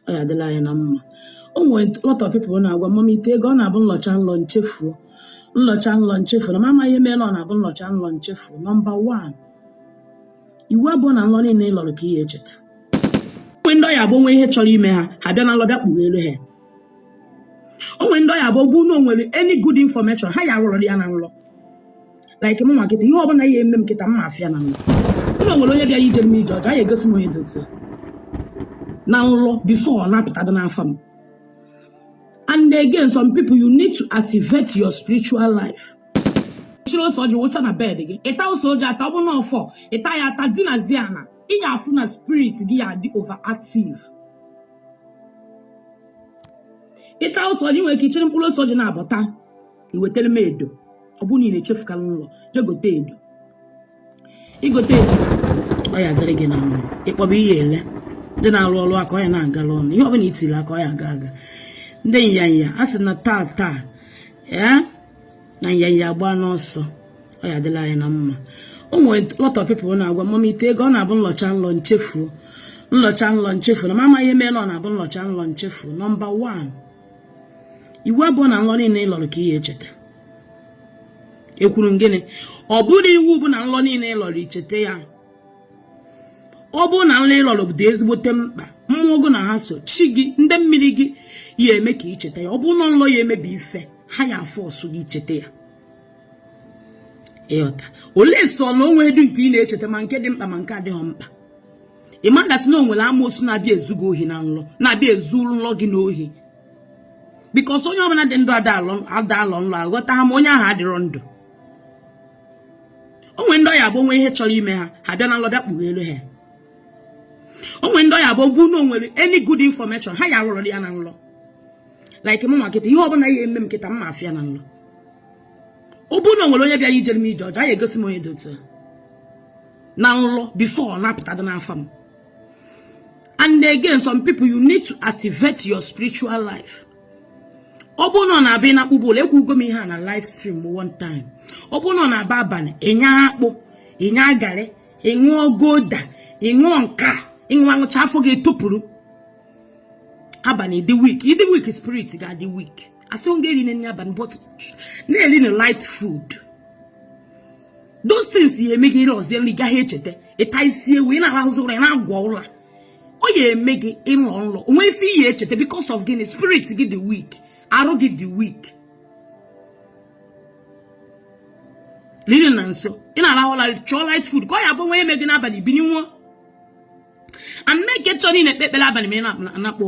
ọ ya adịrị anyị na mma o nwere lot of people na-agwa mama ite ego ọ na-abụ nlọcha nlọ nchefuo nlọcha nlọ nchefuo na m amaghị ihe mere ọ na-abụ nlọcha nlọ nchefuo nọmba wan iwu abụrọ na nlọ niile ị lọrọ ka ị ya echeta o nwee ndị ọ ya abụ o nwee ihe chọrọ ime ha ha bịa na nlọ bịa kpugheelu ha o nwee ndị ọ ya abụ ọ bụrụ na o nwere any good information ha ya ahụrụ ya na nlọ like mụnwa kịta ihe ọ bụla ya eme m kịta m ma afụ ya na nlọ ọ bụrụ na o nwere onye bịara ijere m ije ọjọọ ya egosi m onye dị otu a. na nlọ before ọ na-apụtado n'afọ m and again some people you need to activate your spiritual life chiri ose ọjị wụsa na bed gị ịta ose ọjị ata ọ bụ na ọfọ ịta ya ata dinazie ana ị ga-afụ na spirit gị ya adị overactive ịta ose ọjị nwere ike ichiri mkpụrụ ose ọjị naabọ ta iwetara m edo ọ bụrụ na ị na-echefukalị nlọ jee gote edo i gote edo ọ ya adịrị gị na mma ịkpọba ihe ele ndị na-arụ ọrụ aka ọ ya na-agara ụnụ ihe ọbụla i tiri aka ọ ya aga aga ndị nyanya a sị na taa taa ya na nyanya agba n'ọsọ ọ ya adịrị anyị na mma o nwere lot of people na-agwa mama ite ego ọ na-abụ nlọcha nlọ nchefuo nlọcha nlọ nchefuo na m amaghị ihe mere ọ na-abụ nlọcha nlọ nchefuo nọmba 1 iwu abụrọ na nlọ niile ị lọrọ ka ị ya echeta e kwuru gịnị ọ bụrọ iwu bụ na nlọ niile ị lọrọ icheta ya ọ bụrụ na nlọ ị lọrọ dị ezigbote mkpa mmụọ gị na ha so chi gị ndị mmiri gị ya eme ka i cheta ya ọ bụrụ na nlọ ya emebi ife ha ya a-force gị i cheta ya ị ghọta unless na o nwedụ nke ị na-echeta ma nke dị mkpa ma nke adịghị mkpa ị ma that na o nwere amoosu na-abịa ezu gị ohi na nlọ na-abịa ezu nlọ gị n'ohi because onye ọbụla dị ndụ ada alọ nlọ aghọta ha ma onye ahụ adịrọ ndụ o nwee ndị ọ ya abụ o nwee ihe chọrọ ime ha ha bịa na nlọ bịa kpugheelu ha o nwee ndị ọ ya abụ ọ bụrụ na o nwere any good information ha ya ahụrụ ya na nlọ like mụnwa kịta ihe ọbụla ya eme m kịta m ma afụ ya na nlọ ọ bụrụ na o nwere onye bịara ijere m ije ọjọọ a ya egosi m onye dị otu a na nlọ before ọ na-apụta dị n'afọ m and again some people you need to activate your spiritual life ọ bụrụ na ọ na-abịa na akpụ bụla ekwugo m ihe a na live stream one time ọ bụrụ na ọ na-abụ abalị ịnya akpụ ịnya garị ịṅụọ gulder ịṅụọ nka ịṅụọ aṅụcha afọ gị etopụrụ abalị ị dị weak ị dị weak spirit ga-adị weak asịrọ gị erine nri abalị but na-erinu light food those things ya eme gị ịrọzie nrọ ị gaghị echeta ịta isi ewu ị na-arahụzi ụra ị na-agwọ ụra ọ ya eme gị ịrọ nrọ o nwe ife ị ya echeta because of gịnị spirit gị dị weak arụ gị dị weak lili na nso ị na-arahụ ụra chọọ light food ka ọ ya bụ nwa eme gị n'abalị bini nwa and make sure na ị na-ekpe ekpere abalị ma ị na-akpọ ụra